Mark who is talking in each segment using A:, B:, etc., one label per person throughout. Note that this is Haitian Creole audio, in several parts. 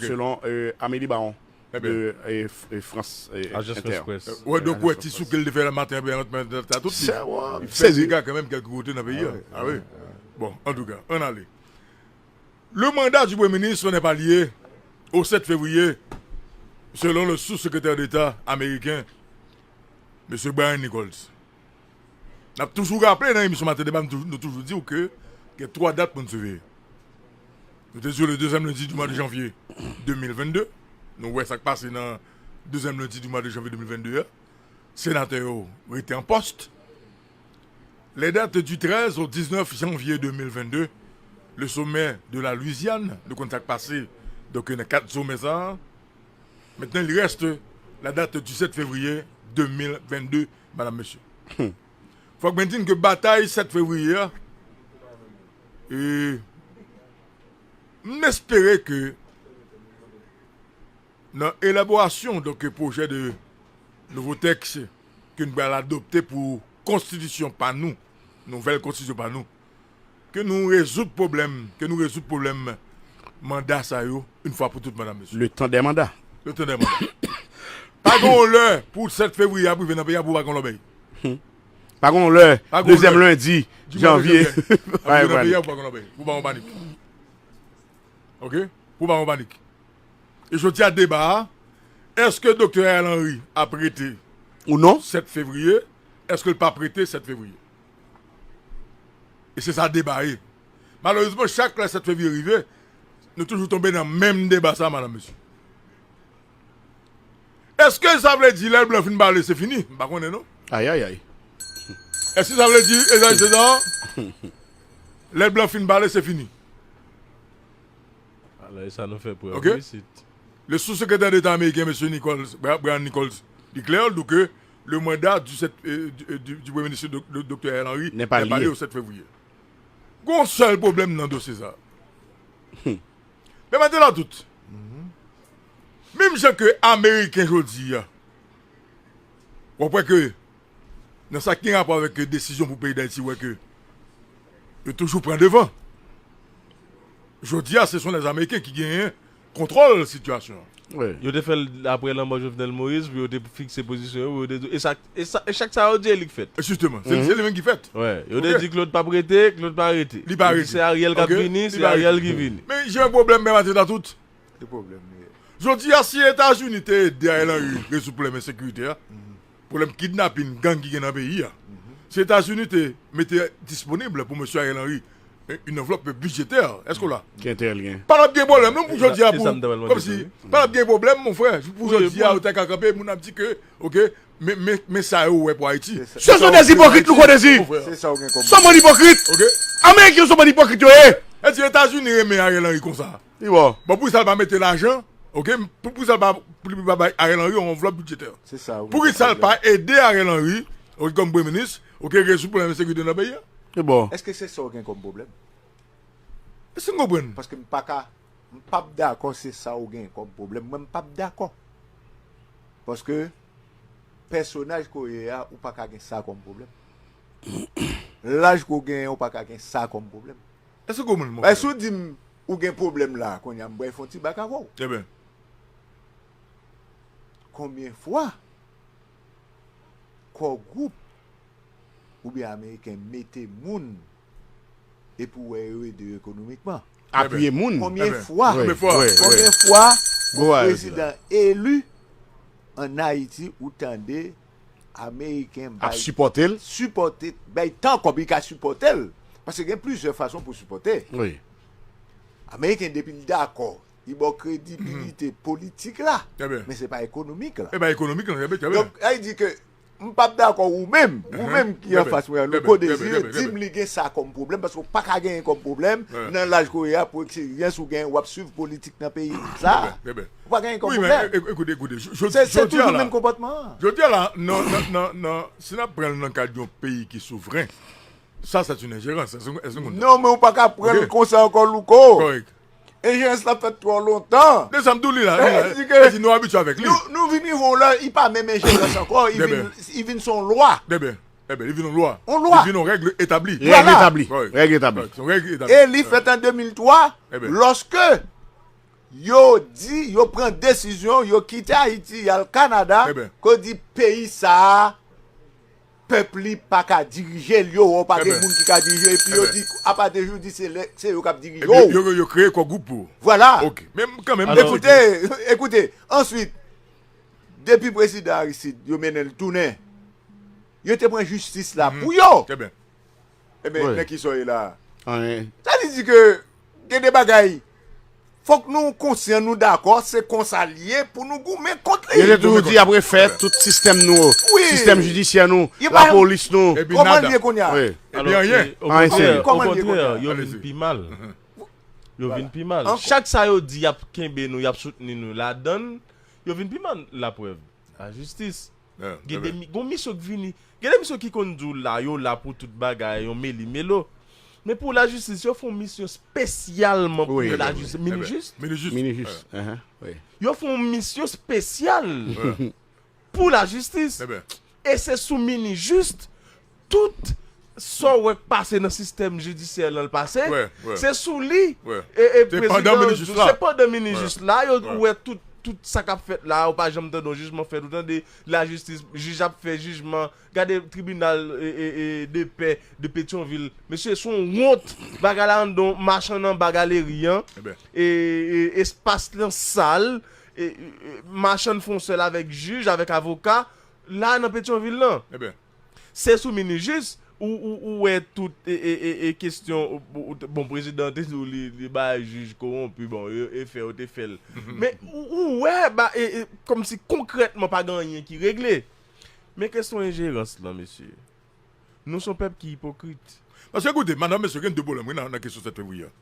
A: selon Amélie Baron de France Inter. Wè donk wè
B: ti souke li te fè nan maten an byen antan mèt la tout li fè dega kanmenm kèlke kote nan peyi a wi bon antouka ann ale Le mandat du premye minis sò nè pa lye o 7 fevriye selon le sous sekretè deta ameriken mesye Brian Nichols. N ap toujou raple nan emisyon Maten Deba nou toujou di w ke gen 3 dat pou n siveye. Nou te di w le dezyèm lendi di mwa de janvye 2022, nou wè sa k pase nan dezyèm lendi di mwa de janvye 2022 a, senatè yo rete an pòst. Les dates du 13 au 19 janvier 2022, le sommet de la Louisiane, nou konn sa k pase donk nan kad somè sa a. Maintenant il reste la date du 7 février 2022. Madam Mesye. Fok mwen din ke batay 7 fevriye a e m espere ke nan elaborasyon donk pwojè de nouvo tèks ke n pral adopte pou konstitisyon pa nou, nouvèl konstitisyon pa nou. Ke nou rezoud pwoblèm, ke nou rezoud pwoblèm manda sa yo yn fwa pou tout madam mesye. Le tan dè manda.
A: Le tan dè manda.
B: Pa gen yon lè pou 7 fevriye ap rive nan peyi a pou pa gen yon lòbèy. Pa
A: gen yon lè dezyèm lendi janvye ap rive nan
B: peyi a pou pa gen yon lòbèy. Pou pa gen yon panik. Ok? Pou pa gen yon panik. E jodi a deba a, eske Doktè Ariel Henry ap rete ou non
A: 7 fevriye,
B: eske l pap rete 7 fevriye. E se sa deba ye. Malerezman chak lè 7 fevriye rive, nou toujou tonbe nan menm deba sa madam mesye. Eske sa vle di lè blan fin pale se fini? M pa konnen non. Ayayay.
A: Eske
B: sa vle di e zay se sa? Lè blan fin pale se fini?
C: Ala e sa nou fè prèv wi isit.
B: Le sou-sekretè deta ameriken mesye Nichols, Brian Nichols, deklè, dou ke Le mandat du 7 du premye minis Doktè Ariel Henry n'est pas lié au 7 fevrier. Gon yon sèl pwoblèm nan dosye sa. Pèmèt la tout. Menm jan ke ameriken jodi a wap wè ke nan sa ki gen rapò avèk desizyon pou peyi Dayiti wè ke yo toujou pran devan. Jodi a se son lèzameriken ki genyen kontwòl sitiyasyon an. Yo te fè l
C: apre lanmò Jovenel Moïse pou yo te fikse pozisyon yo pou yo te di e chak sa yo di e li k fèt. Jisteman. Se li menm ki
B: fèt. Yo te di Claude
C: p ap rete, Claude pa rete. Li pa rete. Yo di se Ariel k ap vini, se Ariel ki vini. Men jan pwoblèm Pè Mathieu
B: ta tout. Se pwoblèm
D: li ye. Jodi a si
B: Etazini te ede Ariel Henry rezoud pwoblèm ensekirite a, Pwoblèm kidnapin gang ki gen nan peyi a, si Etazini te mete disponib pou Mesye Ariel Henry une enveloppe budgétaire, èske w la? Pa tap
A: gen pwoblèm non pou
B: jodi a pou, kòmsi, pa tap gen pwoblèm mon frè pou jodi a ou ta ka kanpe moun ap di ke ok men men sa yo wè pou Ayiti. Se son des ipokrit
A: nou konnen si, son
D: bann ipokrit,
A: ameriken
B: son bann
A: ipokrit yo ye. Èsi
B: Etazini renmen Ariel Henry konsa? Li bon, bon pou kisa l pa mete lajan, ok, pou kisa l pa pou li pa bay Ariel Henry yon anvlòp bidjetè? Se sa wi. Pou kisa l
D: pa ede
B: Ariel Henry, ok kòm premye minis, ok rezoud pwoblèm ensekirite nan peyi a? Li bon. Eske se sa
A: w gen kòm
D: pwoblèm?
B: Èske n konprann? Paske m pa ka,
D: m p ap dakò se sa w gen kòm pwoblèm, mwen m p ap dakò. Paske pèsonaj ke w ye a, ou pa ka gen sa kòm pwoblèm. Laj ke w genyen ou pa ka gen sa kòm pwoblèm. Èske n konprann, mon
B: frè? Si w di m
D: Ou gen pwoblèm la a kounye a m bwè fon ti bak avè w. Eben. Konbyen fwa Kò Gwoup oubyen Ameriken mete moun e pou wè yo ede yo ekonomikman? Apiye moun.
A: Konbyen
B: fwa
D: yon prezidan eli an Ayiti ou tande Ameriken bay
A: sipòte,
D: bay tan kòb li ka
A: sipòte
D: l, paske gen plizyè fason pou sipòte.
A: Ameriken
D: depi l dakò, li ba w kredibilite politik la, men se pa
B: ekonomik
D: la. Donk,
B: lè li di ke
D: m pa p dakò ou menm, ou menm ki anfas mwen an, Louko Desir, di m li gen sa kòm pwoblèm, paske w pa ka genyen kòm pwoblèm nan laj ke w ye a, pou eksperyans ou genyen, w ap swiv politik nan peyi sa a. Ou pa genyen kòm ou vle. Wi men ekoute ekoute jodi
B: a la. Se toujou
D: menm konpòtman an. Jodi a la
B: nan si nap pran nan kad yon peyi ki souvren sa se yon enjerans. Eske nou konprann sa? Non men ou pa
D: ka pran konsa ankò Louko. Kòrèk.
B: Enjerans la fèt
D: twò lontan. De sa m tou li la. Sa
B: di nou abitye avèk li. Nou vin rive yon lè
D: li pa menm enjerans ankò li vin son lwa. Dèbè. Dèbè li
B: vin yon lwa. Yon lwa. Li vin yon règ
D: etabli.
B: Règ etabli. Règ
A: etabli. Son règ etabli. E li fèt
D: an 2003 lòske. Yo di yo pran desizyon yo kite Ayiti yal Kanada ko di peyi sa pèp li paka dirije l yo wè w pa gen moun ki ka dirije l epi yo di apa de jou di se lè se yo kap dirije w. Epi yo yo kreye kò gwoup
B: pou. Vwala. Ok men
D: kan menm.
B: Ekoute ekoute
D: answit depi prezidan Aristide yo mennen l tounen yo te pran jistis la pou yo. Trè byen.
B: Ebyen
D: nan kisa w ye la a? Anyen. Sa vle
A: di ke
D: gen de bagay fòk nou konsyan nou dakò se konsa li ye pou nou goumen kont li. Yo te toujou di y ap refè
A: tout sistèm nou yo, sistèm jidisyè nou, lapolis nou. Ebyen nada. Kòman li ye kounye a? Ebyen
D: anyen. Anyen se anyen.
B: Kòman li ye kounye a?
C: Okontrè, yo vin pi mal. Yo vin pi mal. Chak sa yo di y ap kenbe nou, y ap soutni nou ladan l, yo vin pi mal. Laprèv. La jistis. Gen de gon misyon k vini. Gen de misyon ki konn di w la yo la pou tout bagay yon meli melo. Men pou la jistis yo fon misyon spesyalman pou la jistis. Mini jis. Mini jis. Mini jis. Yo fon misyon spesyal pou la jistis. E se sou mini jis Tout Sa w wè k pase nan sistèm jidisyè lan l pase se sou li se
B: pandan minijis
C: la yo ou wè tout tout sa k ap fèt la ou pa janm tande yon jijman fèt ou tande lajistis jij ap fè jijman gade tribinal depè de petyonvil mesye s on wont bagay la anndan yon machann anba galeri an espas lan sal machann fon sèl avèk jij avèk avoka la nan petyonvil lan. Se sou minijis ou wè tout kestyon bon prezidan te di li ba jij kowonpi bon e fè yo te fè l men ou wè kòm si konkrètman pa gen anyen ki regle men kestyon enjerans lan mesye nou son pèp ki ipokrit. Paske koute
B: madanm mesye gen 2 pwoblèm wi nan kestyon 7 fevriye a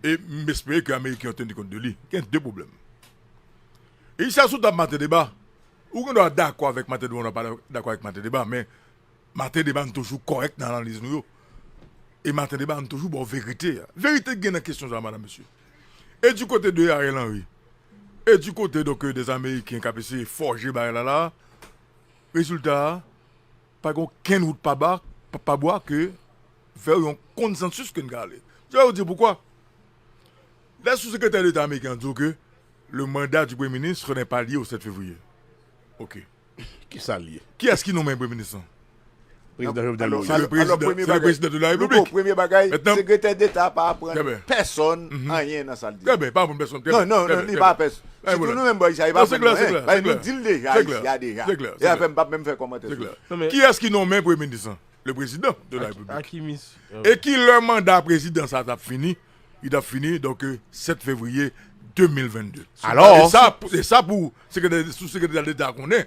B: e m espere ke ameriken yo teni kont de li gen 2 pwoblèm e sa sou tab mate deba. Ou gen dwa dakò avèk Martin Deban ou pa dakò avèk Martin Deban men Martin Deban toujou kòrèk nan analiz nou yo e Martin Deban toujou ba w verite a. Verite ki gen nan kesyon sa a madam mesye e di kote de Ariel Henry e di kote donk des Ameriken k ap eseye fòje bagay la la a rezilta a pa gen okenn wout pa ba pa bwa ke vè yon konsansis ke n ka ale. Mwen va di w poukwa lè sou sekretè deta ameriken an di w ke Le mandat du Premye Ministre n'est pas lié au 7 février. Ok. Kisa
A: l ye? Kiyès ki nonmen Premye Minis
B: lan? Prezidan
D: Jovenel
B: Moïse. Se le Prezidan de la Repiblik. Louko, premye bagay,
D: Sekretè Deta pa aprann pèsòn anyen nan sa l di. Trè byen, li pa aprann pèsòn. Non, non, non,
B: li pa aprann
D: pèsòn. Sitou nou menm bò isit la, li pa aprann nou anyen. Paske nou di l deja isit la deja. Se klè, se klè. Se sa fè m pa p menm fè kòmantè sou sa. Se klè. Kiyès ki nonmen
B: Premye Minis lan? Le Prezidan de la Repiblik. A ki mis? E ki lè manda Prezidan sa a t ap fini Li tap fini donk 7 fevriye 2022. Alò,
A: e sa pou
B: sou sekretè deta konnen,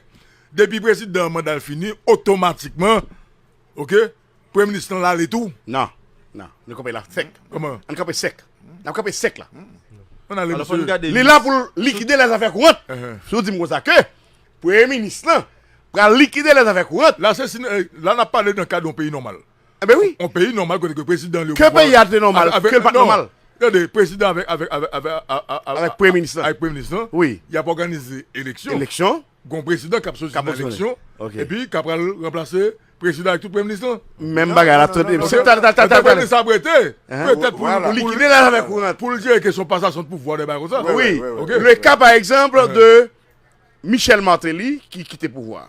B: depi prezidan manda l fini otomatikman ok premye minis lan lale tou? Nan, nan,
A: nou kanpe la sèk. Kòman? An kanpe sèk. Nap kanpe sèk la. An ale msye.
B: Li la pou likide
A: lè zafè kourant. Si w di m konsa ke premye minis lan pral likide lè zafè kourant. La se si, la
B: nap pale nan kad yon peyi nòmal. Enben wi. On peyi
A: nòmal kote ke prezidan
B: li yo. Ke peyi a te nòmal,
A: ke l pa t nòmal. Tande, prezidan avèk,
B: avèk, avèk, avèk, avèk. Avèk
A: premye minis lan. Avèk premye minis lan. Wi.
B: Y ap òganize eleksyon. Eleksyon. Gon prezidan k ap soti nan eleksyon. Ok. Epi k ap pral ranplase prezidan ak tout premye minis lan. Menm bagay la. Tande,
A: tande, tande, tande. Tande, premye minis la
B: ap rete. Petèt pou l. Pou likide la lave kourant.
A: Pou l jere kesyon pasasyon
B: de pouvwa, de bagay konsa. Wi. Ok. Le ka
A: pa egzanp de Michel Martelly ki kite pouvwa.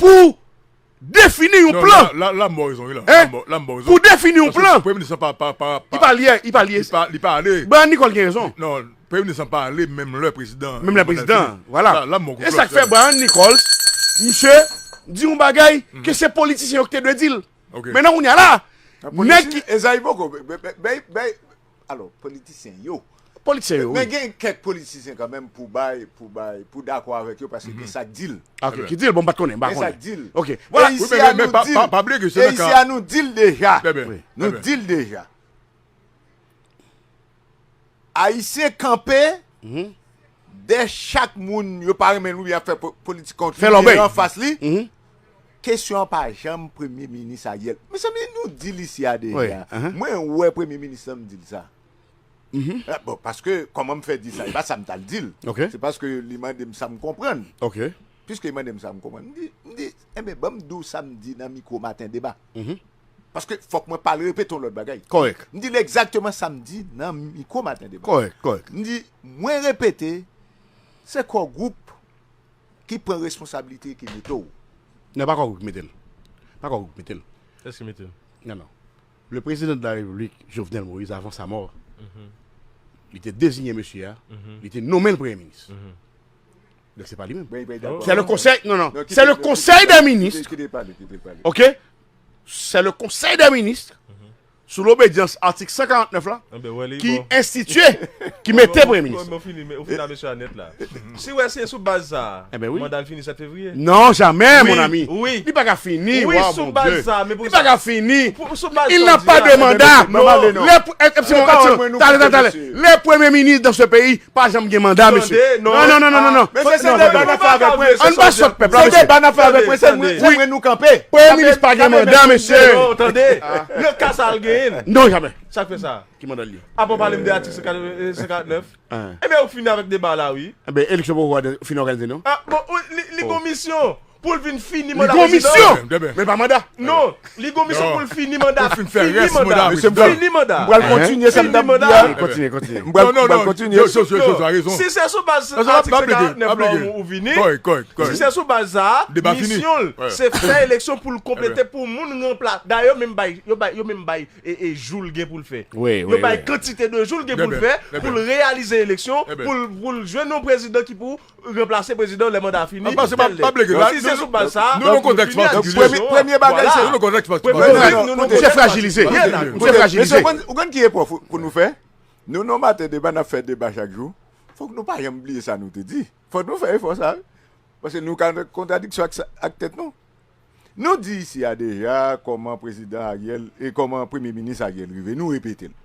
A: pou defini yon plan.
B: Pou defini
A: yon plan. Li
B: pa
A: ale. Li pa ale.
B: Brian Nicole gen rezon.
A: Non, premye minis lan pa
B: ale menm lè prezidan an. Menm lè prezidan an.
A: Vwala. E sa k fè
B: Brian
A: Nicole, misye di yon bagay ke se politisyen yo ki te dwe di l. Mennen kounye a la, nèg ki. Ezayi poko.
D: Alò politisyen yo. Politisyen yo wi. Men gen
A: kèk
D: politisyen kanmenm pou bay, pou bay, pou dakò avèk yo paske gen sa k di l. Ok, ki di l bon m pat konnen,
A: m pa konnen. Gen sa k di l. Ok. E
D: isi a
A: nou di l.
D: Pa bliye ke se nan ka. E isi a nou di l deja. Trè byen. Nou di l deja. Ayisyen kanpe dè chak moun yo pa renmen l oubyen y ap fè politik kont li. Fè lòbèy. Ki gen anfas li. Kesyon an pa janm premye minis Ariel. Mezanmi nou di li sia deja. Mwen wè premye minis lan m di l sa. Bon paske kòman m fè di sa e pa sa m tal di l. Se paske li mande m sa m konprann. Piske
A: li mande m sa
D: m konprann m di m di enben ban m di w sa m di nan mikwo maten deba. Paske fòk mwen pa al repete yon lòt bagay. M di l egzakteman
A: sa
D: m di nan mikwo maten deba. M di
A: mwen
D: repete se Core Group. Ki pran responsabilite ki mete w. Nan pa kòk ou ki
A: mete l. Pa kòk ou ki mete l. Kiyès ki mete l?
C: Nan nan.
A: Le prezidan de la repiblik Jovenel Moïse avan sa mò li te dezinye mesye a li te nonmen l premye minis. Donk se pa li menm. Se le konsèy non non se le konsèy dè minis ok se le konsèy dè minis sou lobedyans atik 149 la, ki enstitye, ki mete Premye Minis
C: la. Si wè se sou baz sa a, manda l fini 7 fevriye? Non, jamè, mon
A: ami! Li pa ka fini,
C: wa bon
A: Dye! Wi, sou baz
C: sa a! Li pa ka fini!
A: Il n'a pas
C: de
A: mandat! Lè pou, Epsilon, Epsilon, tale, tale, tale! Le premye minis dan se peyi pa janm gen manda mesye. Non non non non non. Mesye se
D: deba nap fè avek mwen. An pa sot pèp la mesye. Se deba
A: nap fè avek mwen se
D: mwen nou kanpe. Premye minis pa gen manda
A: mesye. Non tande.
C: Nan ka sa al genyenn. Non jamè.
A: Sak fè sa. Ki manda
C: li gen. Apan pale
A: m de atik 149.
C: Ebyen ou fini avek deba la wi. Ebyen eleksyon poko
A: fini òganize non. Bon li
C: gon misyon. Pou l vin fini manda prezidan an.
A: Men pa manda. Non, li gon
C: misyon pou l fini manda. Pou l fin fè rès manda
B: prezidan. Fini manda. M pral
C: kontinye sa m
D: t ap di a. Kontinye, kontinye.
A: M pral
D: kontinye. Si se
C: sou baz atik 149 la ou vini, si se sou baz sa a, misyon l se fè eleksyon pou l konplete pou moun ranpla. Dayè yo menm bay, yo menm bay jou l gen pou l fè. Yo bay kantite
A: de
C: jou l gen pou l fè pou l reyalize eleksyon, pou l jwenn yon prezidan ki pou ranplase prezidan lè manda fini ou tèl lè. Si se sou baz sa a, nou fini ak diskisyon an.
B: Premye bagay se.
D: Vin
B: nou nou se frajilize.
A: Mesye, ou konn ki epò
D: pou nou fè? Nou non maten deba n ap fè deba chak jou. Fòk nou pa janm bliye sa nou te di. Fòk nou fè efò sa wi. Paske nou ka nan kontradiksyon ak tèt nou. Nou di isi a deja kòman prezidan Ariel e kòman premye minis Ariel rive. Nou repete l.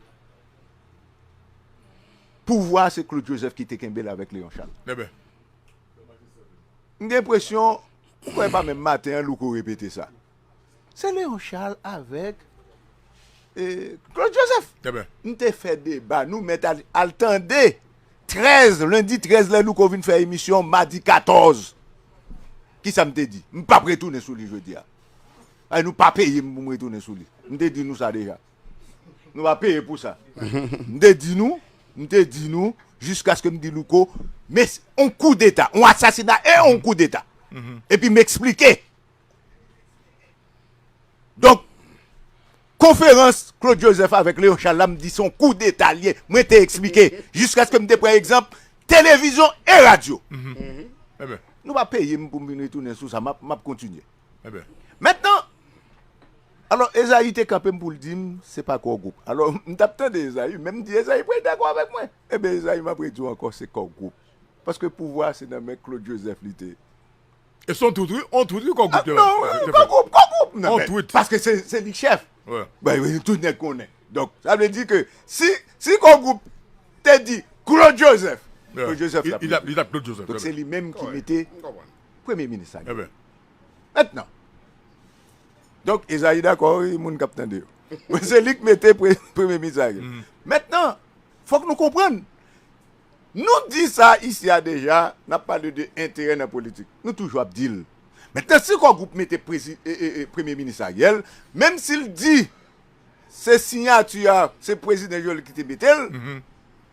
D: pouvwa a se Claude Joseph ki te kenbe l avèk Léon Charles. M gen enpresyon, m kwè e pa menm maten an Louko repete sa. Se Léon Charles avèk Claude Joseph. M te fè deba, nou mèt al tande 13, lendi 13 lè Louko vin fè emisyon madi 14. Kisa m te di? M pap retounen sou li jodi a. Paske nou pa peye m pou m retounen sou li. M te di nou sa deja. Nou va peye pou sa. M te di nou, m te di nou, jiskaske m di Louko, me se yon kou deta, yon asasina e yon kou deta. E pi m eksplike. Donk, konferans Claude Joseph avèk Léon Charles la, m di se yon kou deta li ye. Mwen te eksplike, jiskaske m te pran egzanp, televizyon e radyo. Nou va peye m pou m vin retounen sou sa, m ap kontinye. Mètnan, alò, Ezayi te kanpe m pou l di m, Se pa Kò Gwoup. Alò, m t ap tande Ezayi, men m di, Ezayi pral dakò avèk mwen. Enben, Ezayi, m ap redi w ankò, se Kò Gwoup. Paske pouvwa a se nan men Claude Joseph li te. E s on
B: twit wi, on twit wi Kò Gwoup te bay. Non, non, Kò Gwoup, Kò
D: Gwoup! On twit. Paske se li
B: k chèf.
D: Wi. Tout
B: nèg
D: konnen. Donk, sa vle di ke si, si Kò Gwoup te di Claude Joseph, Claude Joseph t ap rete. Li t ap Claude Joseph.
B: Donk, se li menm ki mete.
D: M konprann. Premye minis la genyen. Mentnan, donk Ezayi dakò wi moun kap tande yo. Bon se li k mete premye minis la genyen. Mentnan, fòk nou konprann, nou di sa isi a deja, nap pale de enterè nan politik. Nou toujou ap di l. Mentnan si Kò Gwoup mete premye minis Ariel, menm si l di. Se sinyati a, se prezidan Jovenel ki te mete l,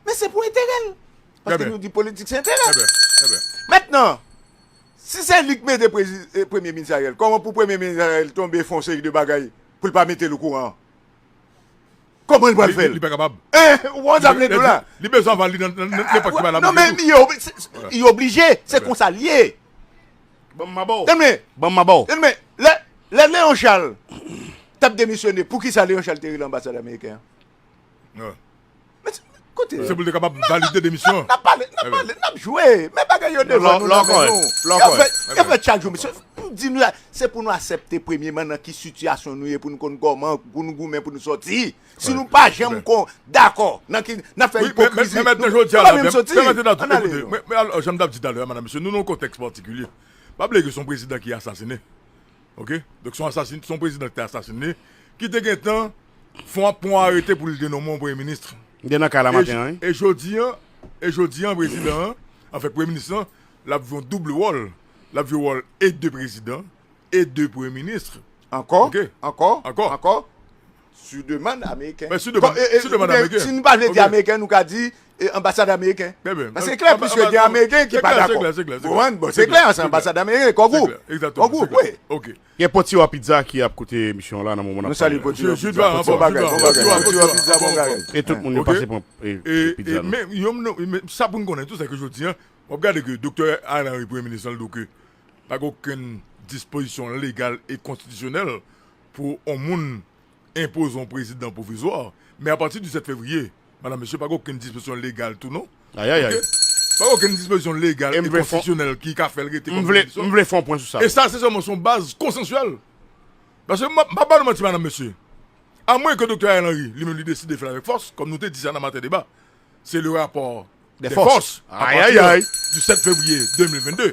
D: men se pou enterè l. Paske nou di politik se enterè. Mentnan, si se li ki mete premye minis Ariel, kòman pou premye minis Ariel tonbe fè yon seri de bagay pou l pa mete l okouran an? Kòman l pral fè l? Li pa kapab. Ou
B: konprann sa m vle
D: di w la? Li bezwen aval li nan
B: nenpòt ki bay lamanjè tou. Non men li
D: oblije, se konsa l ye. Ban m
A: maba w! Tande byen! Ban m maba w! Tande
D: byen! Lè, lè Léon Charles t ap demisyone, pou ki sa Léon Charles te rele anbasadè ameriken an? An.
B: Men se,
D: men, koute. Se pou l te kapab valide
B: demisyon an. N ap pale, n ap pale, n
D: ap jwe. Men bagay yo devan nou, nan men nou. Lò kòy, lò kòy. Y ap fè, y ap fè chak jou. Mesye, m di nou la, se pou nou asèpte premyeman nan ki sitiyasyon nou ye pou nou konn kòman pou nou goumen pou nou sòti. Si nou pa janm kon dakò nan ki n ap fè ipokrizi. Men mèt nan jodi a la,
B: men mèt nan tout ekoute, men mèt nan janm t ap di talè a madan mesye nou nan yon kontèks patikilye. Pa bliye ke son prezidan ki asasine. Ok? Donk son asasin, son prezidan ki te asasine, ki te gen tan fon ap pon arete pou li te nonmen yon premye minis. Li te nan kay la maten
A: an wi. E jodi an,
B: e jodi an prezidan an, an fè premye minis lan, l ap jwe yon double wòl. L ap jwe wòl e de prezidan e de premye minis. Ankò,
D: ankò,
B: ankò.
D: Sou demann ameriken. Mwen si demann
B: ameriken. Si nou pa vle di ameriken
D: nou ka di anbasad ameriken. Paske se klè pwiske gen ameriken ki pa dakò. Se klè, se klè. Bon, se klè se anbasad ameriken, kò gwoup. Kò gwoup, wi.
B: Ok.
D: Gen Potiwa
B: Pizza
A: ki ap koute emisyon an la nan moman n ap pale la. Nou salye Potiwa Pizza.
D: Bon bagay, bon bagay.
B: Potiwa
D: Pizza, bon bagay. E tout moun yo pase pran
A: pizza nou. Men, yon m,
B: sa pou n konnen tou se ke jodi an, w ap gade ke Doktè Ariel Henry, Premye Minis lan, l di w ke pa gen okenn dispozisyon legal e konstitisyonèl pou on moun enpoze on prezidan pwovizwa, men apati di 7 fevriye, madan mesye, pa gen okenn dispozisyon legal tou non. Ayayay.
A: Ok? Pa gen okenn
B: dispozisyon legal e konstitisyonèl ki ka fè l rete kòm premye minis. M vle fè on pwen
A: sou sa. E sa se sèlman son baz
B: konsansyèl. Paske m pa ba nou manti madan mesye, amwenke doktè Ariel Henry li menm li deside fè l avèk fòs, kòm nou te di sa nan maten deba, se le rapò de fòs ayayay
A: du 7 fevriye 2022.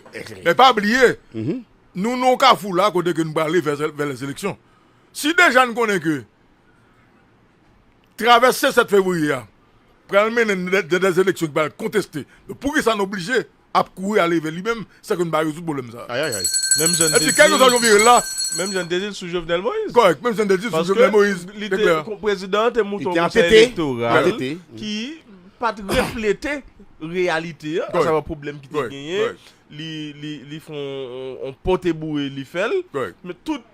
B: Men pa bliye, nou nan yon kafou la kote ke nou prale vè lè seleksyon. Si deja nou konnen ke travèse 7 fevriye a pral mennen nan dè seleksyon ki pral konteste, poukisa nou oblije ap kouri ale vè li menm san ke nou pa rezoud pwoblèm sa. Ayayay. Menm jan
A: n te di l. Epi
B: kèlkeswa jan w vire l la. Menm jan n te di l sou
C: Jovenel Moïse. Kòrèk. Menm jan n te di l sou
B: Jovenel Moïse. Paske li te, prezidan
C: an te mouton konsèy elektoral ki pa t reflete reyalite an, asavwa pwoblèm ki te genyen, li fè yon pote boure li fè l, men tout.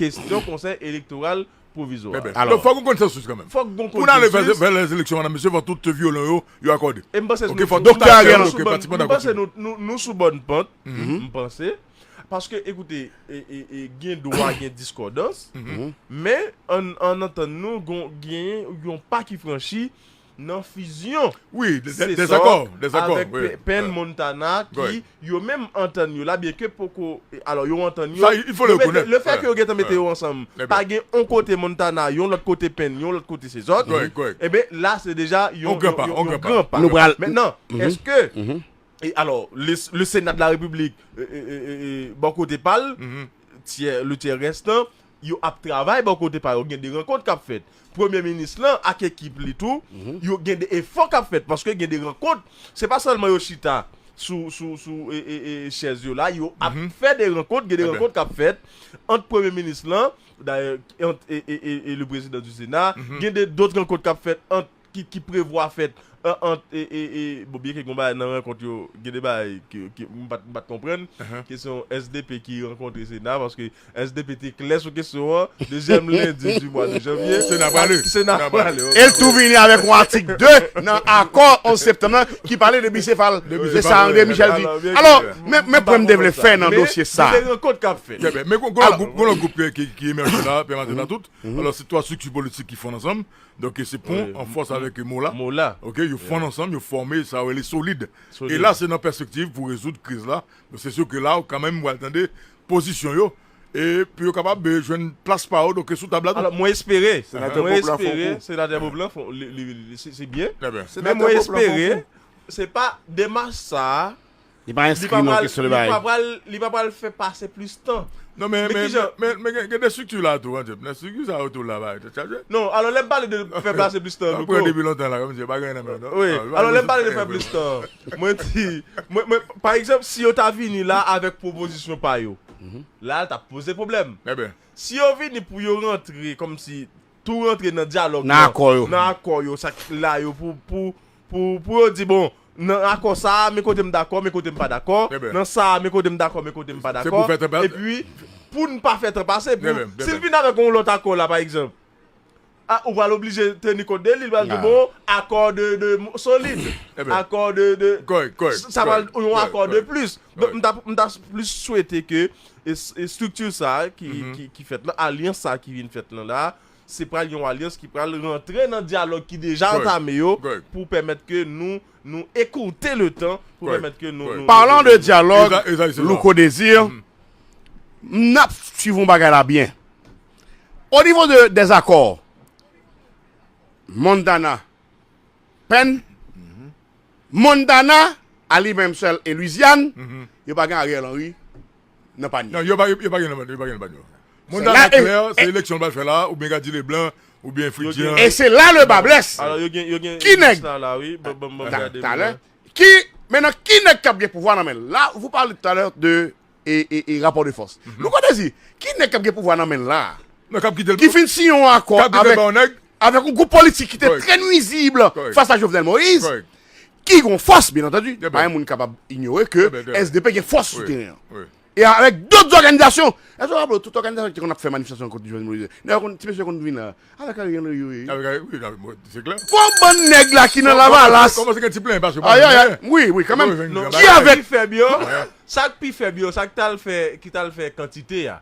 C: kestyon konsèy elektoral pwovizwa. Donk fòk gen konsansis
B: kanmenm. Fòk gen konsansis. Pou n ale
C: vè
B: lèzeleksyon madan mesye fòk tout vyolon yo yo akòde. E m panse nou sou bòn
C: pant. M panse nou sou bòn pant. M panse. Paske ekoute gen dwa gen diskòdans. Men ann antann nou genyen yon pa ki franchi nan fizyon Cesar
B: avèk Penn
C: Montana ki yo menm antann yo la byenke poko alò yo antann yo le
B: fè ke yo gentan mete
C: yo ansanm pa gen yon kote Montana yon lòt kote Penn yon lòt kote Cesar enben la se deja yon gran pa yon
B: gran pa mètnan èske
C: alò le Senat de la République bò kote pa l le tyè rèstan yo ap travay bò kote pa yo, gen de rankont kap fèt. Premye minis lan ak ekip li tou, yo gen de efò kap fèt paske gen de rankont, se pa sèlman yo chita sou sou chèz yo la, yo ap fè de rankont, gen de rankont kap fèt ant premye minis lan dayè ant e le prezidan di sena, gen de dot rankont kap fèt ant. ki prevwa fèt ant bon byen ke gon bagay nan rankont yo gen de bagay ke m pat konprann kesyon sdp ki rankontre sena paske sdp te klè sou kesyon an dezyèm lendi di mwa de janvye sena prale sena prale e l tou vini avèk
A: yon atik 2 nan akò 11 septanm nan ki pale de bisefal se sa andre michel di alò men pwen m te vle fè nan dosye sa gen de rankont k ap fèt
C: men gon
B: lòt gwoup ki emèje la pèmatenatout alò se 3 estrikti politik ki fonn ansanm. Donk se pon an fòs avèk mo la. Mo la. Ok, yo fonn ansanm, yo fòme sa yo rele solid. Solid. E la se nan pèspektiv pou rezoud kriz la. Donk se sou ke la ou kanmenm pral tande pozisyon yo e pou yo kapab jwenn plas pa yo donk sou tab la tou. Alò mwen espere,
C: mwen espere Senatè Bob lan fon, li, li, li, se byen. Men mwen espere se pa demach sa a Li
A: pa enskri non kesyon de bagay. Li pa pral fè
C: pase plis tan. Non
B: men gen de strikti la tou an Jep. Strikti sa yo tou la bagay tèt chaje. Non alò lè m
C: pale de fè pase plis tan Louko. Mwen pran depi lontan la kòmsi yo
B: pa gen nan menm non. Wi alò lè m
C: pale de fè plis tan mwen di mwen pa egzanp si yo ta vini la avèk pwopozisyon pa yo la l t ap poze pwoblèm. Si yo
B: vini pou
C: yo rantre kòmsi tou rantre nan dyalòg nan nan akò
A: yo sa
C: k la yo pou Pou yo di, bon, nan akò sa a, men kote m dakò, men kote m pa dakò, nan sa a, men kote m dakò, men kote m pa dakò, epi pou n pa fè tan pase, pou, si l vin avèk yon lòt akò la, pa egzanp, a, ou pral oblije teni kont de li, li pral di, bon, akò de, de, solid, akò de, de, sa pral yon akò de plis. Donk, m ta, m ta plis swete ke estrikti sa a ki, ki fèt la, alyans sa a ki vin fèt la, se pral yon alyans ki pral rantre nan dyalòg ki deja antame yo pou pèmèt ke nou nou ekourte le tan pou pèmèt ke nou nou. Parlant de dyalòg,
A: Louko Desir, m nap swiv yon bagay la byen. O nivo de dezakò Montana Penn, Montana a li menm sèl e Lwizyàn, yo pa gen Ariel Henry. nan panye. Non, yo pa gen nan panye,
B: yo pa gen nan panye. Monda la klè, se eleksyon yo pral fè la, oubyen Gadji Leblanc, oubyen Fritjean. E se la le ba
A: blesse. Alò yo gen, yo gen. Ki
C: nèg? Sa
A: la wi, bon bon bon
C: gade. Talè. Ki,
A: menan ki nèg kap gen pouvwa nan men l la? Vou pale talè de e, e, e rapò de fòs. Nou konnen si, ki nèg kap gen pouvwa nan men l la? Non kap kite l. Ki fin siyen yon akò avèk, avèk yon gwoup politik ki te trè nwizib fas a Jovenel Moïse. Ki gen yon fòs, byen antandu, pa gen moun kapab inyore ke SDP gen fòs sou teren an. E avèk dòt zòganizasyon. Èske ou raple ou tout òganizasyon ki te konn ap fè manifestasyon kont Jovenel Moïse? Nèg yo, ti mesye konn vin la. Avèk Ariel Henry yo ye. Avèk Ariel, wi, nan,
B: se klè. Fo bann nèg la
A: ki nan Lavalas. Kòmanse gen ti plenyen paske yo pa
B: jwenn anyen. Wi, wi, kanmenm.
A: Ki avèk. Sa k pi fèb
C: yo, sa k pi fèb yo, sa k t al fè, ki t al fè kantite a.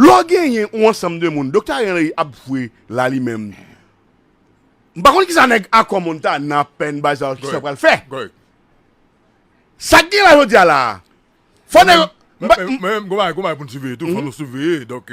B: Lè w
A: genyen yon ansanm de moun, Doktè Ariel Henry ap jwe la li menm. M pa konn kisa nèg Akò Montana, Pen, Bazaar kisa yo pral fè. Sa k gen la jodi a la a, fò nèg yo. Men,
B: gen yon bagay pou n siveye tou, fò nou siveye donk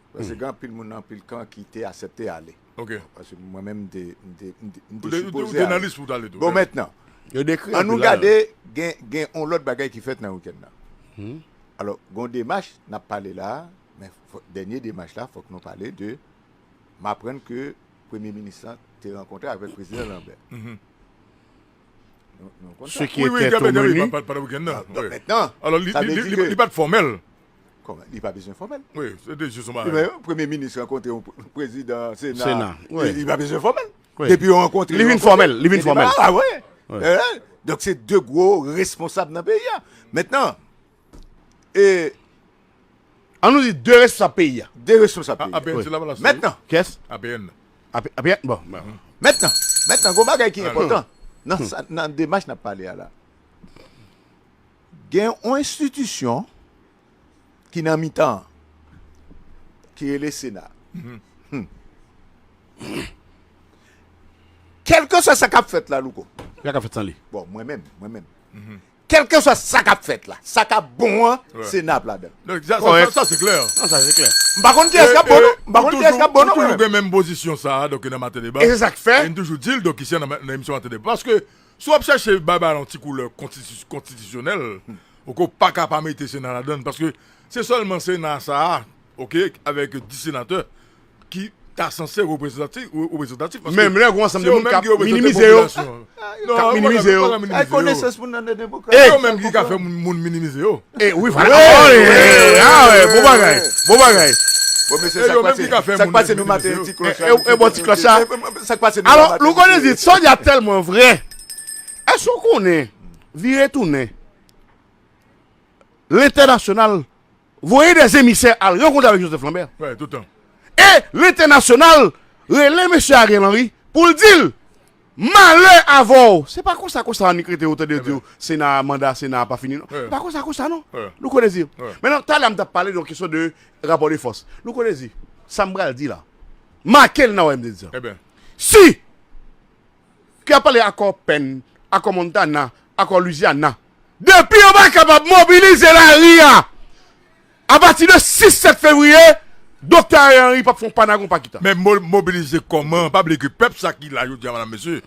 D: Paske gen anpil moun nan anpil kan ki te asèpte ale. Ok. Paske mwen menm
B: m te,
D: m te, m te, m te sipoze ale.
B: Ou te nan lis pou w t ale tou. Bon mentnan. Yo
D: dekri anpil bagay. An nou gade gen, gen yon lòt bagay ki fèt nan wikenn nan. Alò, gen yon demach n ap pale la a, men fò, dènye demach la fòk nou pale de, m aprann ke Premye Minis lan te rankontre avèk Prezidan Lanbè. Nou, nou
A: konn sa. Se ki etè tou meni. Wi, wi, pandan wikenn nan. Bon,
B: mentnan, sa vle di ke.
D: Alò, li, li,
B: li, li pa t fòmèl. Kòman? Li pa
D: bezwen fòmèl? Wi, se te jis
B: yon bagay. Yon premye minis
D: rankontre yon prezidan sena. Sena, wi. Li pa bezwen fòmèl. Wi. Depi yo rankontre.
A: Li vin
D: fòmèl, li vin fòmèl.
A: Li vin fòmèl, wi. Wi.
D: Ehe, donk se de gwo responsab nan peyi a. Mentnan, e.
A: An nou di de responsab peyi a. De responsab
D: peyi a. APN se Lavalas. Mentnan.
B: Kès? APN. APN, bon.
A: Mentnan,
D: mentnan, gwo bagay ki enpòtan nan sa, nan demach n ap pale a la. Gen yon enstitisyon ki nan mitan an, ki rele Sena. Kèlkeswa sa k ap fèt la, Louko. Sa ka fèt san li. Bon,
A: mwen menm, mwen menm.
D: Kèlkeswa sa k ap fèt la, sa k ap bon an, Sena ap ladan l. Sa se klè. Sa se klè.
B: M pa
A: konn kiyès k ap bon
D: non. M pa konn kiyès k ap bon non. Ou toujou gen menm pozisyon
B: sa a nan Maten Deba. E se sa k fè. E m toujou
A: di l
B: nan emisyon Maten Deba. Paske, Si w ap chèche bay bagay la yon ti koulè konstitisyonèl, ok, ou pa ka pa mete Sena ladan l, paske se sèlman Sena sa a, ok, avèk 10 senatè ki ta sanse reprezantatif, paske se yo menm ki
A: reprezante popilasyon an. Kap minimize yo. Ay konesans moun nan
B: nan
A: demokrasi.
D: Se yo menm ki ka fè
B: moun minimize yo. E wi vale
A: Eee bon bagay Bon bagay Bon mesye
D: sak pase Sak pase nou maten yon ti klòch la E bon ti klòch la Sak
A: pase nou maten Alò
D: nou konnen di Sonia
A: a tèlman vrè Èske ou konnen Vire tounen Lentènasyonal Voye dè zemisè Al rankontre avèk Joseph Lambert
B: E
A: lentènasyonal Rele mesye Ariel Henry Pou l di l Malè avèw! Se pa konsa konsa annik rete yo tande yo diw sena a manda sena a pa fini non. Se pa konsa konsa non. Nou konn ezi. Menan talè a m tap pale de yon kesyon de rapò de fòs. Nou konn ezi. Sa m pral di la. Make l nan oy m te di sa. Si ke yap pale akò Penn, akò Montana, akò Louisiana. Depi yo pa kapab mobilize lari a. A pati de 6 7 fevriye Doktè Ariel Henry pap fon panagon pa kita. Men mobilize koman,
B: pa bliye ke pèp sa ki la jodi a madam mesye,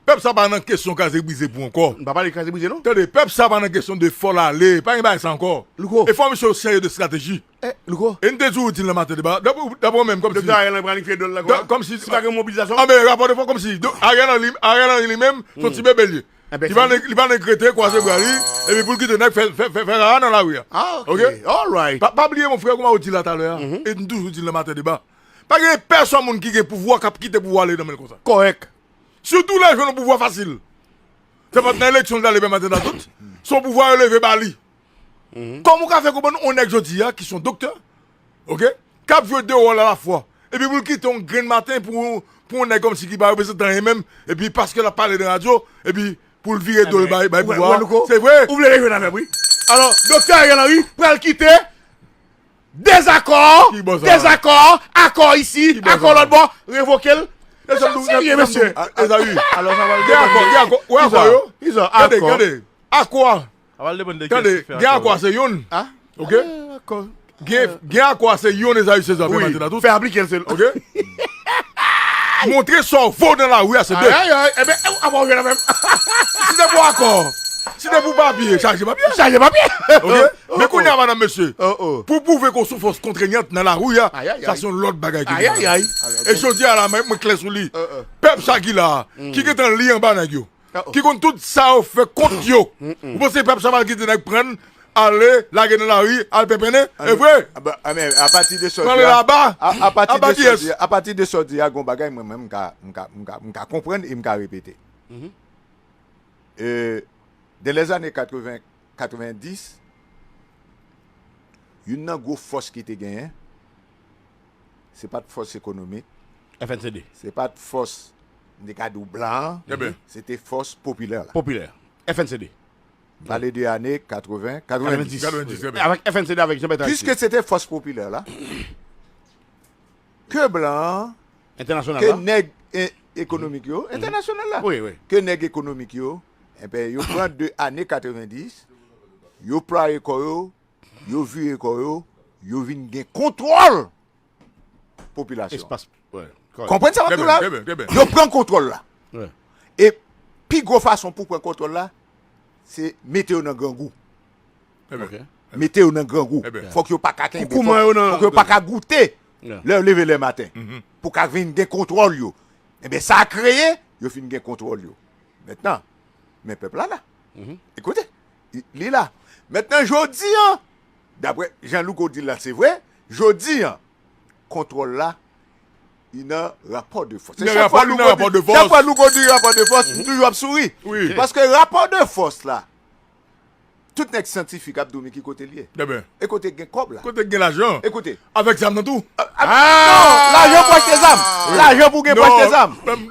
B: pèp sa pa nan kesyon kraze brize pou ankò. Nou pa pale kraze brize non. Tande,
A: pèp sa pa nan kesyon
B: de fòl ale, pa gen bagay sa ankò. Louko. E fò misye yo serye de strateji. E, Louko. E nou te
A: di ou di l nan maten
B: deba, daprè ou menm kòmsi. Doktè Ariel Henry planifye dol la kòman?
A: Kòmsi. Si pa gen
B: mobilizasyon. Anben
A: rapò de fò kòmsi
B: Ariel Henry li menm son ti bebe li ye. Li pa nan li pa nan krete kwaze bra li epi poul kite nèg fè fè fè rara nan lari a ok
A: alright pa pa bliye mon frè kouman ou
B: di la talè a e nou toujou di l nan maten deba pa gen pèsòn moun ki gen pouvwa kap kite pouvwa ale nan men l konsa kòrèk
A: sitou lè jwenn
B: yon pouvwa fasil se pat nan eleksyon l t ale byen maten ta tout se yon pouvwa yo leve ba li. Kòman ou ka fè konprann yon nèg jodi a ki son doktè ok kap jwe 2 wòl alafwa epi pou l kite yon grenn maten pou yon nèg kòmsi ki pa reprezantan anyen menm epi paske lap pale nan radyo epi pou l vire do l bay pouvwa a se vre ou vle rejwenn avèm wi
A: alò doktè Ariel Henry pral kite dezakò dezakò akò isi akò lòt bò revoke l e sa nou serye mesye Esaü
B: gen akò gen akò wè
A: akò yo gade gade akò
B: a Tande,
C: gen akwa se youn,
B: ok, gen akwa se youn Esaü Cesar Pierre Mathena tout, fè aplike l se l, ok, montre sa w vo nan lari a se de. Ayayay, enben, apa
A: w jwenn avè m? Si se pou
B: akò, si se pou papye, chaje papye. Chaje papye. Ok, men kounye a madanm mesye, pou w pwouve ke w sou fòs kontrenyant nan lari a, sa se yon lòt bagay ki vin. Ayayay. E jodi a la mwen klè sou li, pèp sa ki la a, ki gen tan li anba nèg yo. ki konn tout sa yo fè kont yo ou panse se pèp chaval ki di nèg prann ale lage nan lari al penpennen evre
D: pranle aba
B: aba kiyès
D: apati de sa ou di a gon bagay mwen menm m ka konprann e m ka repete de lè zane 80 90 youn nan gwo fòs ki te genyen se pa t fòs ekonomik, FNCD. se
A: pa t fòs
D: m te ka di w blan an, se te fòs popilè la. Popilè,
A: FNCD. M pale de
D: ane 80, 90. 90, trè byen. Avèk FNCD,
A: avèk Jean Bertrand Aristide. Piske se te fòs popilè
D: la, ke blan an, ke
A: nèg
D: ekonomik yo, entènasyonal la, ke nèg ekonomik yo, enben yo pran de ane 90, yo plwaye kò yo Yo vire kò yo, yo vin gen kontwòl popilasyon an.
A: Konprann sa m ap di w la?
D: Yo pran kontwòl la. E pi gwo fason pou w pran kontwòl la, se mete yo nan grangou. Mete yo nan grangou. Fòk yo pa ka kenbe. Fòk yo pa ka goute lè yo leve le maten. Pou w ka vin gen kontwòl yo. Enben sa kreye, yo fin gen kontwòl yo. Mètnan, men pèp la la. Ekoute, Li la. Mentnan jodi an, dapre jan Louko di l la se vre, jodi an, kontwòl la li nan rapò de fòs.
B: Chak fwa Louko di rapò de
D: fòs, m toujou ap souri. Paske rapò
B: de
D: fòs la, tout nèg syantifik ap di w men ki kote l ye. E kote k gen kòb la. Kote k gen lajan. E kote.
B: Avèk zam nan
D: tou.
B: Non!
D: Lajan pou achte zam. Lajan pou gen pou achte zam.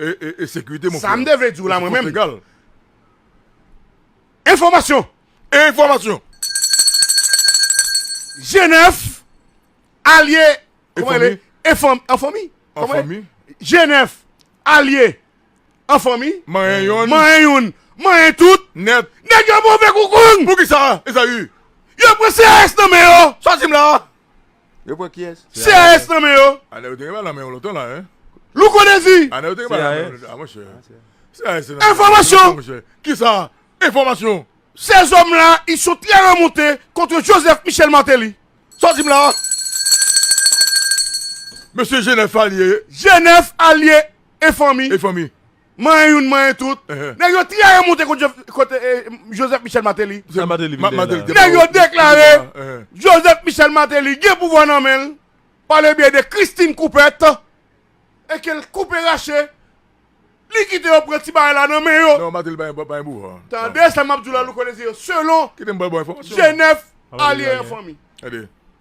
A: e
B: sekirite mon frè. Sa m te vle di w la mwen menm.
A: Enfòmasyon! Enfòmasyon! Jenèf alye anfanmi. Jenèf alye anfanmi. Manyen youn. Manyen youn. Manyen tout. Nèt. Nèg
B: yo move kou
A: kong. Pou ki sa Ezayi?
B: Yo pran CRS
A: nan men yo. Sa w di m la?
B: Yo
D: pran kiyes? CAS nan men yo.
A: Anel ou te gen bal nan men yo lontan
B: la hein. Louko Dezi.
A: Anel ou te gen bal nan men
B: yo ah monchè. CAS te nan men yo.
A: Enfòmasyon. Monchè. Kisa?
B: Enfòmasyon. Ces hommes là
A: ils sont très remontés contre Joseph Michel Martelly. Sa w di m la a?
B: Mesye Jenèf Alye. Jenèf Alye
A: e fanmi. E fanmi. Manyen youn manyen tout. Nèg yo trayi monte kont Joseph Michel Martelly. Sa Martelly vin gen la. Nèg yo deklare Joseph Michel Martelly gen pouvwa nan men l pa le byen de Christine Coupet e ke l koupe rache li kite yo pran ti bagay la nan men yo. Non Martelly pa gen pouvwa.
B: Tande sa m ap di w la
A: Louko Desir selon
B: Genève Alye
A: an Fanmi.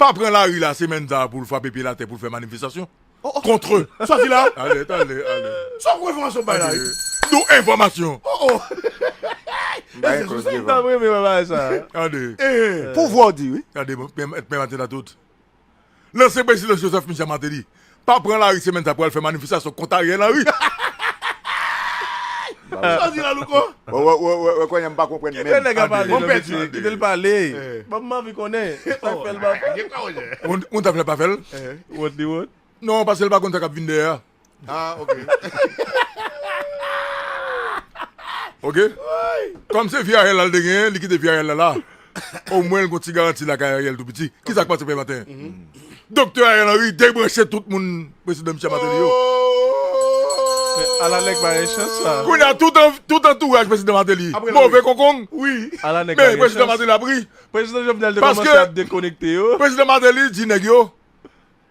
B: pa pran lari la semèn sa pou l frape pye l atè pou l fè manifestasyon kontre sòti la sa w kwè
A: enfòmasyon m bay la ye nou enfòmasyon
D: pouvwa w di wi men m atè
B: nan tout. Lanse Prezidan Joseph Michel Martelly pa pran lari semèn sa pou al fè manifestasyon kont
D: Ariel
B: Henry. Ah, ok. Ok? Kòm se fi Ariel la l te genyen, li kite fi Ariel la la. Omwen l gon ti garanti lakay Ariel tou piti. Ki sa k pase fè maten? Doktè Ariel Henry debranche tout moun Prezidan Michel Martelly yo. Men
C: ala nèg pa gen chans la. Kounye a tout an, tout
B: antouraj Prezidan Martelly move kokong. Wi. Ala nèg pa Men
A: gen Prezidan chans.
C: Martelly ap ri.
B: Prezidan Jovenel te
C: Paske- kòmanse ap dekonekte
B: yo.
C: Prezidan Martelly di nèg
B: yo,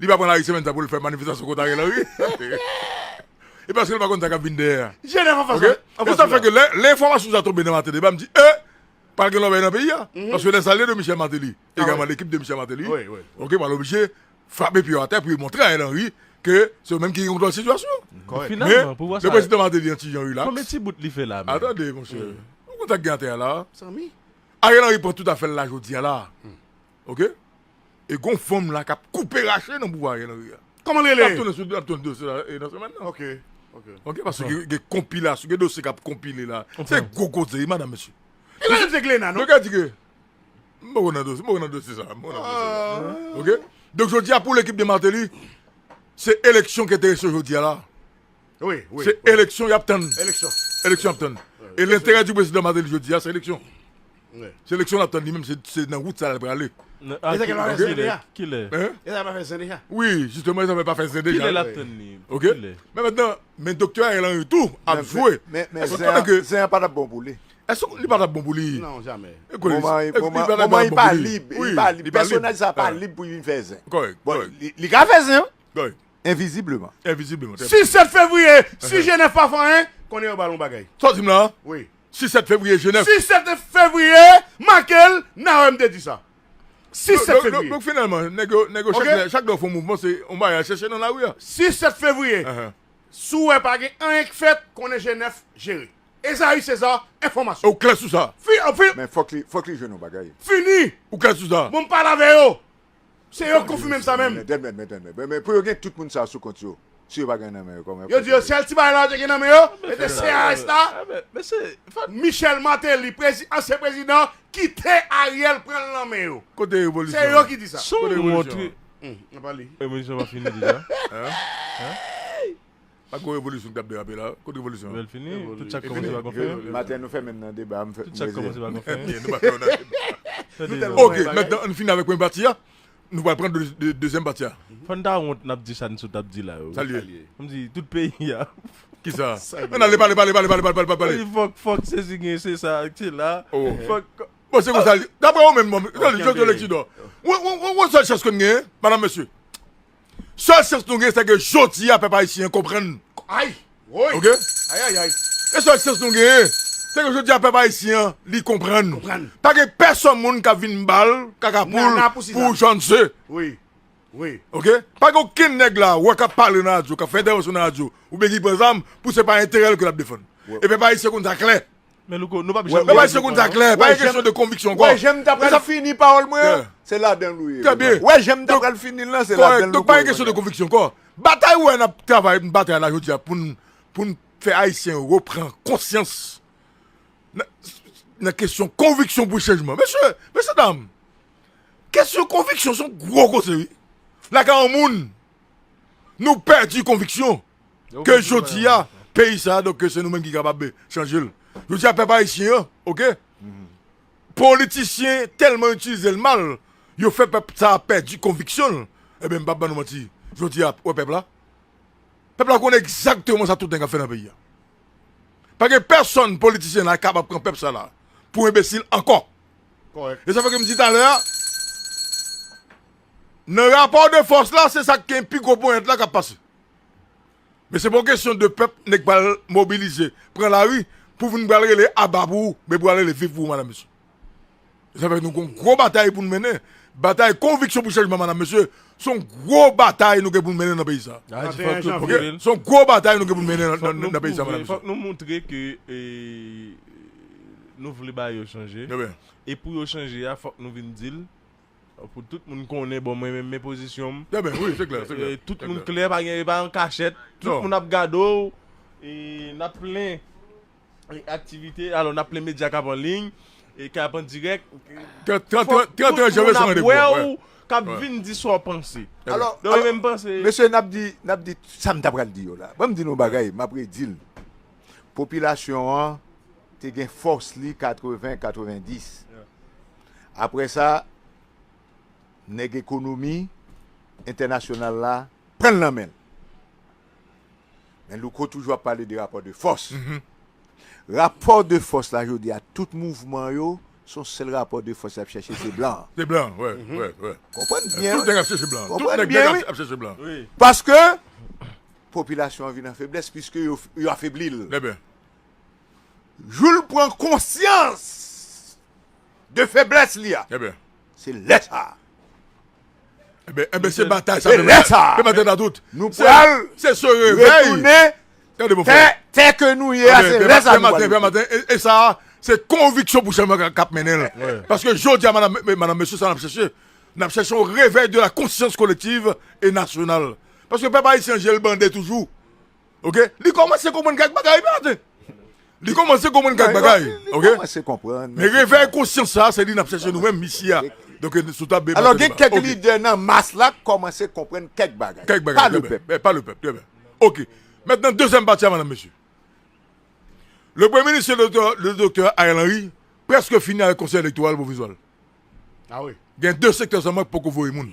B: Li pa pran lari semèn sa pou l fè manifestasyon kont Ariel Henry. E paske l pa konn sa k ap vin dèyè a. E
A: sa fè ke
B: lè enfòmasyon sa tonbe nan maten deba m di e! Pral gen lòbèy nan peyi a. Paske lè sa lè de Michel Martelly e gaman lekip de Michel Martelly pral oblije frape pye yo atè pou yo montre Ariel Henry ke se yo menm ki gen kontwòl sitiyasyon an. Men,
C: lè prezidan Martelly an ti jan
B: rilaks.
C: A tande monsè.
B: Ou konn sa k gen atè a la a?
A: Ariel Henry pran
B: tout afè l la jodi a la a. Ok e gon fanm la kap koupe rache nan pouvwa Ariel Henry a. Koman l rele? Map tounen sou
A: map tounen
B: sou dosye
A: la
B: nan semèn nan. Ok ok. Ok
A: paske
B: gen konpilasyon gen dosye kap konpile la. Se gwo koze wi madam mesye. E pa janm se Glena
A: non. Yo ka di ke
B: m poko nan dosye m poko nan dosye sa. Ok donk jodi a pou lekip de Martelly se eleksyon ki enterese yo jodi a la.
A: Se eleksyon
B: y ap tann. Eleksyon ap tann.
A: E
B: lenterè di prezidan Martelly jodi a se eleksyon. Se
A: eleksyon l ap tann li
B: menm se nan wout sa l ap prale. E zafè pa fè zen deja?
C: Kilè? E zafè pa fè zen deja?
A: Wi, jistemman e zafè pa
B: fè zen deja. Kilè l ap tann li?
C: Pou
B: kilè?
C: Men mentnan,
B: men doktè Ariel Henry tou ap jwe. Men
D: zen an pa t
B: ap bon pou li.
D: Èske li pa t ap bon pou
B: li? Non, jamè.
A: Moman li
D: pa lib. Pèsonaj sa pa lib pou li vin fè zen. Kòrèk. Bon, li
B: ka fè
D: zen. Kòrèk. Envizibleman. Envizibleman, trè byen.
B: Si 7 fevriye,
A: si Jenèf pa fè anyen, konnen yo ba l yon bagay. Sa w di m la a? Wi.
B: Si 7
A: fevriye, Jenèf.
B: Si 7 fevriye,
A: make l, n a wè m te di sa. Si 7 fevriye. Donk finalman, nèg yo,
B: nèg yo, chak lè yo fè yon mouvman, se yon bagay y al chèche nan lari a. Si 7 fevriye,
A: si w wè pa gen anyen k fèt, konnen Jenèf jere. Ezayi Seza, enfòmasyon. Ou klè sou sa? Fi,
B: fi. Men fòk
D: li,
B: fòk
A: li jwenn
D: yon bagay.
B: Fini! Ou
A: klè
D: sou sa?
A: Bon, m pale
D: avè yo. Se
A: yo k konfime m sa menm. Mètèd mèt mètèd mèt mèt mèt pou yo
D: gen tout moun sa sou kont yo si yo pa gen nan men yo kòman yo fè sa. Yo di yo sèl ti bagay la
A: yo te gen nan men yo e te CRS la.
C: Michel Martelly
A: prezi ansyen prezidan kite Ariel pran l nan men yo. Kote revolisyon an? Se yo
B: ki di sa. Kote
A: revolisyon an? Hum
C: nan pa li.
A: Revolisyon pa fini deja?
C: Hum hum.
B: Pa gwo revolisyon kap derape la. Kot revolisyon an. Evini.
C: Maten nou fèmen nan deba
D: m fè mwen zen.
C: Ok mètnan ann fini avèk
B: premye pati a nou pral pran dezyèm pati a. Fòn ta wont nap
C: di sa Nsoud tap di la yo. Salye. Kom si
B: tout peyi
C: a. Kisa? Ann
B: ale pale pale pale pale pale pale. Fòk
C: fòk sezi gen se sa ak se la. Fòk. Bon se konsa li.
B: Daprè ou menm bon. Jodi leksidò. Ou wè sèl chans ke n gen madam mesye. Sèl chans nou gen sèke jodi a pèp ayisyen an konprann. Ay! Woy!
A: Ok? Ayayay! E sèl chans
B: nou gen, sèke jodi a pèp ayisyen an li konprann. Konprann. Pa gen pèsòn moun k'ap vin bal kaka poul. Nana pou Sizann. Pou Jan ze. Wi.
A: Wi. Ok?
B: Pa gen okenn nèg la wè k'ap pale nan radyo, k'ap fè entèvansyon nan radyo oubyen ki pran zam pou se pa enterè l ke l'ap defann. E pèp ayisyen konn sa klè. Men louco nou pap janm
C: Travay seconde sa klè,
B: pa gen kesyon de konviksyon ankò. Wè jan m ta pral fini
D: pawòl mwen an, se ladan l ou ye. Trè byen. Wè jan m ta
B: pral fini
D: l lan, se ladan l louco ye. Kòrèk, donk pa gen kesyon de konviksyon ankò.
B: Batay ou wè n ap travay, n batay la jodi a pou n pou n fè ayisyen yo repran konsyans nan nan kesyon konviksyon pou chanjman. Mesye, mesye dam, kesyon konviksyon se yon gwo koze wi. Lakay yon moun, nou pèdi konviksyon. ke jodi a peyi sa donk ke se nou menm ki kapab chanje l. Jodi a pèp ayisyen an ok politisyen tèlman itilize l mal yo fè pèp sa pèdi konviksyon l enben m pap ban nou manti jodi a wè pèp la pèp la konnen egzakteman sa tout nèg ap fè nan peyi a. Pa gen pèsòn politisyen la kapab pran pèp sa la pou enbesil ankò. E sa
A: fè ke m di talè
B: a nan rapò de fòs la se sa k gen pi gwo ponyèt la k ap pase. Men se pa yon kesyon de pèp nèg pral mobilize pran lari pou vin pral rele aba pou ou men pral rele viv pou ou madam mesye. E sa fè nou gon gwo batay pou nou mennen, batay konviksyon pou chanjman madam mesye, se yon gwo batay nou gen pou nou mennen nan peyi sa. Se yon gwo batay nou gen pou nou mennen nan peyi sa madam mesye. Fòk nou moutre ke
C: nou vle bagay yo chanje e pou yo chanje a fòk nou vin di l. Pou tout moun konnen bon mwen men pozisyon m.
B: Tout moun klè pa
C: gen epa an kachèt. Tout moun ap gade w. E nap plen aktivite alò nap plen medya kap an liy. E kap an dirèk. Fòk
B: tout moun ap wè w. Kap vin di
C: sa w panse. Alò
D: mesye
C: nap di nap
D: di sa m ta pral di yo la. Ban m di nou bagay map redi l. Popilasyon an. te gen fòs li 80, 90. Aprè sa, nèg ekonomi entènasyonal la pran l nan men l. Men Louko toujou ap pale de rapò de fòs. Rapò de fòs la jodi a, tout mouvman yo, se yon sèl rapò de fòs y ap chèche, se blan an. Se blan an, wè, wè,
B: wè. Konprann byen.
D: Tout nèg ap chèche blan an. Konprann
B: byen, wi. Tout nèg ap chèche
D: blan an.
B: Paske,
D: popilasyon an vin an feblès, piske yo afebli l. Nèben. Jou l pran konsyans de feblès li a, se lè
B: sa a. Enben, se batay sa a. Se lè sa a.
D: Nou pral
B: retounen tè,
D: tè ke nou ye a, se lè sa a nou pral retounen. E
B: sa a, se konviksyon pou chanjman k ap mennen l. Paske jodi a, madam, mesye, sa n ap chèche, n ap chèche yon revèy de la konsyans kolektiv e nasyonal. Paske pèp ayisyen je l bande toujou. Ok li komanse konprann kèk bagay wi maten Li komanse konprann kèk bagay ok Men revèy konsyans sa se li nap chèche nou menm misi a Donk sou tab Beba Alò gen
D: kèk lidè nan mas la k komanse konprann kèk bagay Kèk bagay trè byen pa le pèp trè byen
B: Ok Mètnan dezyèm pati a madam mesye Le premye minis le doktè Ariel Henry prèske fini avèk konsèy elektoral pwovizwa l
A: Gen de sektè sèlman
B: k poko voye moun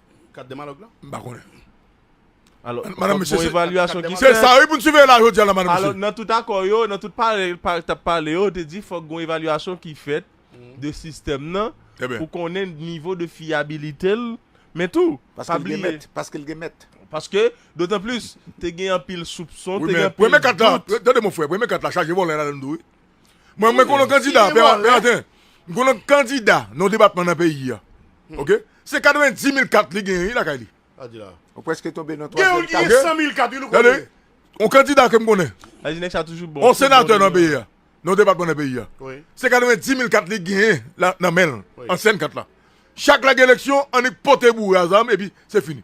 A: Kat demalòg lan? M pa konnen.
B: Alò,
C: Madame, fòk Mesye, gon se-
B: evalyasyon ki Se fèt. sa
C: wi pou n siveye la
B: jodi a la Madame, Alò, Mesye. nan tout akò yo, nan
C: tout pale, pale, t ap pale yo, yo te di fòk gon evalyasyon ki fèt de sistèm nan Trè byen. pou konnen nivo de fiyabilite l, men tou, Paske pa l gen bliye, mèt, paske
D: l gen mèt. paske,
C: dotan plis, te gen anpil soupson, Wi te gen men, anpil premye kat la,
B: dout.
C: tande mon
B: frè, premye kat
C: la chaje
B: vòlè ladan l tou wi. Mwen mwen konon kandida, pè maten, mwen konon kandida nan debatman nan peyi ya. Ok? Se 90 mil kat li genyen lakay li. Ou preske
D: tonbe nan 3 mil kat. Gen ou ki gen 100 mil
A: kat, yon kandida. Yon kandida ke
B: mwen konen. Yon
C: senatè nan peyi ya.
B: Nan debatman nan peyi ya. Se 90
A: mil kat
B: li genyen nan menl. Ansyen kat la. Chak lage eleksyon, annik pote boure a zam, epi se fini.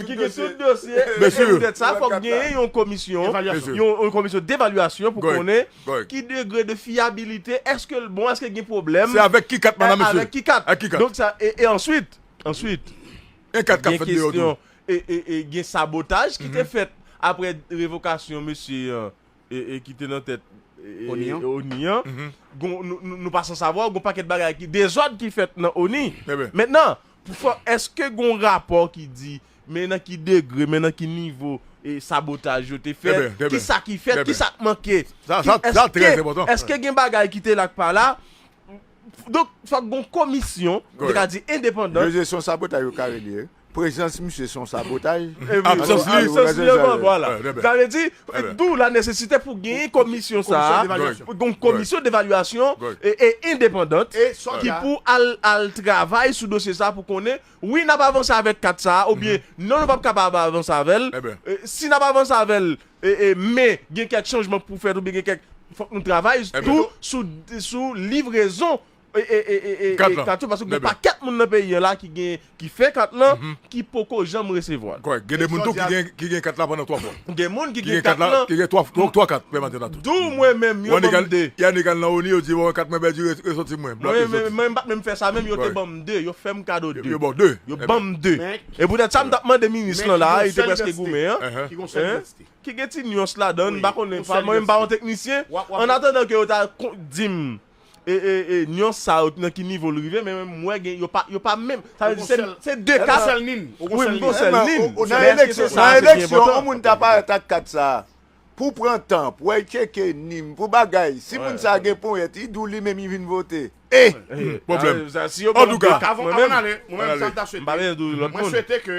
C: Ki gen tout dosye. Byensi. Pou tèt
B: sa, fòk genyen
C: yon komisyon. Evalyasyon. Yon komisyon devalyasyon pou konnen. Gòy. Ki degre de fiyabilite, èske l bon, èske gen pwoblèm. Se avèk ki kat mandan
B: mesye? Avèk ki kat. Ak ki kat. Donk
C: sa, e answit, answit.
B: Gen kat k ap fèt deyò tou. Gen kestyon,
C: e gen sabotaj ki te fèt apre revokasyon mesye. ki te nan tèt ONI an, nou pa san savwa, gen yon pakèt bagay ki, dezòd ki fèt nan ONI. Mentnan, pou fò, èske gen yon rapò ki di, men nan ki degre, men nan ki nivo sabotaj yo te fèt, ki sa ki fèt, ki sa k manke?
B: Èske gen bagay ki te
C: la k pa la? Donk, fòk gen yon komisyon, nou ka di endepandan. Yo jesyon sabotaj yo
D: kare li e. Prezans misye son sabotaj. Absans li son sabotaj. Vwala.
C: Sa vle di, d'ou la nesesite pou genyen komisyon sa a, pou gon komisyon devalyasyon e endepandant ki pou al travay sou dosye sa a pou konnen wi n ap avanse avèk kat sa a oubyen non nou p ap kapab avanse avè l. Si n ap avanse avè l men gen kèk chanjman k pou fèt oubyen gen kèk fòk nou travay tou sou livrezon kat yo paske gen pakèt moun nan peyi an la ki gen ki fè kat lan ki poko janm resevwa l. Kòrèk. Gen de moun tou ki
B: gen ki gen kat la pandan 3 fwa. Gen moun ki gen kat
C: lan. Ki gen 3 fwa 3 kat
B: pèman tè la tou. Dou mwen menm yo banm
C: 2. Yannick al nan Oni yo di
B: bon kat mwen pèdi resòti mwen. Mwen menm mwen menm m pat menm fè sa
C: menm yo te banm 2 yo fèm kado 2. Yo baw 2. Yo banm
B: 2.
C: E poutèt sa m tap mande minis lan la a li te prèske goumen an. Ki gon sèl densite.
A: Ki gen ti nuance
C: ladan m pa konnen mwen menm m pa yon teknisyen. An atandan ke yo ta dim E e e nuance sa yo nan ki nivo l rive men menm m wè gen yo pa yo pa menm sa vle di se se 2 ka sa wi m konsèl nin nan eleksyon nan
D: eleksyon on moun ta parèt ak kat sa pou pran tan pou al tcheke nin pou bagay si moun sa gen ponyèt i di w li menm li vin vote e pwoblèm
B: antouka
C: avan n ale mwen menm sa
A: m ta swete mwen swete ke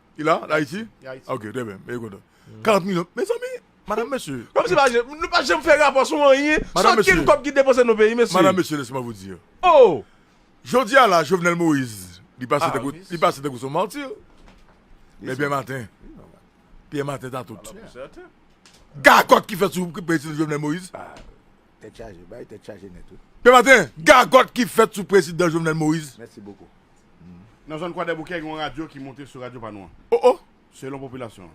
B: Li
A: la, li Ayiti? Li
B: Ayiti. Ok, trè byen, mwen kontan. 40 milyon, mezanmi, madan mesye. Kòm si pa je, nou pa
C: janm fè rapò sou anyen, sou ankenn kòb ki depanse nan peyi, mesye. Madan mesye, lèsman vou di.
B: Oh!
C: Jodi a la,
B: Jovenel Moïse, li pase tankou, li pase tankou son marti. Men Pierre Martin, Pierre Martin ta tout. Gagòt ki fèt sou prezidan Jovenel Moïse. Tèt chaje,
D: bay tèt chaje nèt wi. Yon maten, gagòt
B: ki fèt sou prezidan Jovenel Moïse. Mèsi bokou.
D: Nan zòn
A: Kwadèboukè gen yon radyo ki monte sou radyo pa nou an. Oh oh! Selon
B: popilasyon
A: an.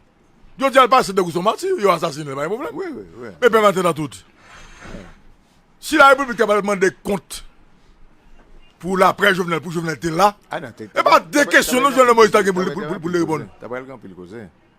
A: Jodi a l pase
B: degou s on mati, yo asasine l pa gen pwoblèm. Wi wi wi. Men pè maten
D: nan tout.
B: Si la repiblik ta pral mande kont pou laprès Jovenel pou Jovenel te la, e pa de kesyon non Jovenel Moïse ta gen pou l reponn. Ta pral gen anpil koze.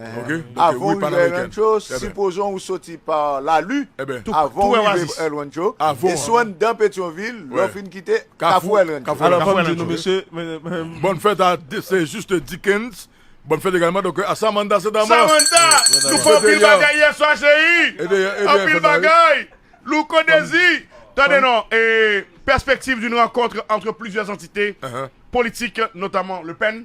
B: Avan w rive
D: El Rancho, sipozon ou soti pa Lalu, avan w rive El Rancho, e sou anndan Petyonvil, lè w fin kite Kafou El Rancho. Alò, fò m di nou mesye,
C: Bòn fèt
B: a Se Juste Dickens, Bòn fèt egalman donk a Samanda Cedama. Samanda! Nou fè
A: anpil bagay yèswa cheri! Anpil bagay! Louko Dezi! Tande non, Perspective d'une rencontre entre plusieurs entités politiques, notamment Le Pen.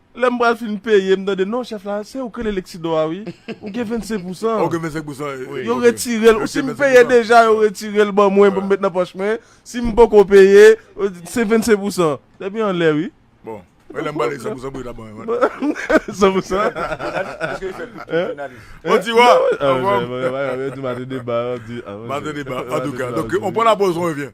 B: Lèm pral
C: fin peye m tande non chèf la se ou k rele Lexidor a wi ou gen 25 pousan an
B: yo retirel ou
C: sim peye deja yo retirel ban mwen pou m met nan pòch mwen sim poko peye se 25 pousan depi anlè wi bon lèm pral
B: li 100 pousan pou yo ta ban mwen 100 pousan bon ti wa anfòm.
C: Mate
B: deba antouka donk on
C: pran la
B: poz on revyen.